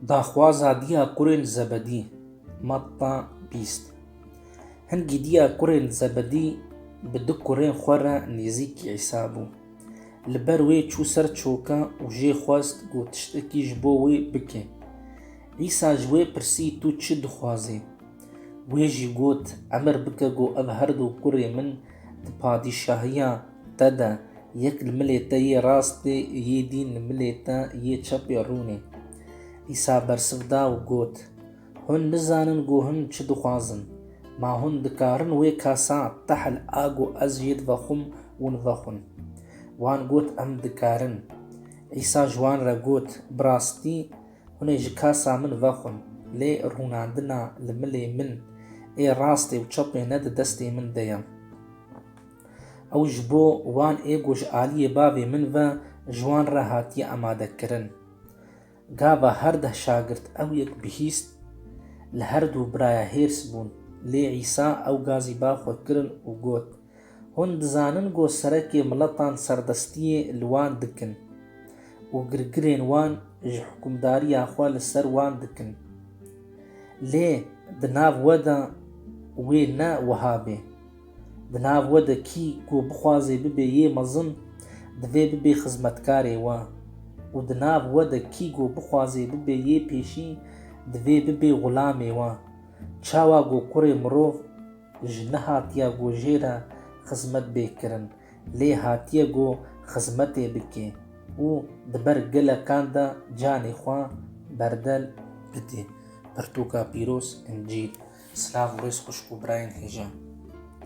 Daxwaza Diya Kurê li Zebedî, Matta bîst Hingî Diya Kurê li Zebedî bi du kurên xwe re nêzîkî Îsa bû. Li ber wê çû ser çoka û jê xwest ku tiştekî ji bo wê bike. Îsa ji wê pirsî tu çi dixwazî? Wê jî got, Emir bike ku ev herdu kurê min di padîşahiya Te de, yek li milê te yê rastê yê dîn li milê te yê çepê rûnê. Îsa bersiv da û got, Hûn nizanin ku hûn çi dixwazin. Ma hûn dikarin wê kasa tehl a ku ez jê divexwim ûn vexwin? Wan got, Em dikarin. Îsa ji wan re got, Bi rastî, hûn ê ji kasa min vexwin, lê rûnandina li milê min ê rastê û çepê ne di destê min de ye. Ew ji bo wan êgo ji aliyê bavê min ve ji wan re hatiye amadekirin. Gava her deh şagirt ew yek bihîst, li her du biraya hêrs bûn. Lê Îsa ew ga zî ba xwe kirin û got, Hûn dizanin ku serekê miletan serdestiyê li wan dikin û girgirên wan ji hikûmdariya xwe li ser wan dikin. Lê di nav we de wê ne wiha bê. Di nav we de kî ku bixwazê bibê yê mezin, divê bibê xizmetkarê we û di nav we de kî ku bixwazê bibê yê pêşî, divê bibê xulamê we. Çawa ku kurê mirov ji nehatiya ku jê re xizmet bê kirin, lê hatiye ku xizmetê bike û di ber gelekan de canê xwe berdel bide. Pirtûka pîroz, Încîl. Silav û rêz xwişk û birayên hêja.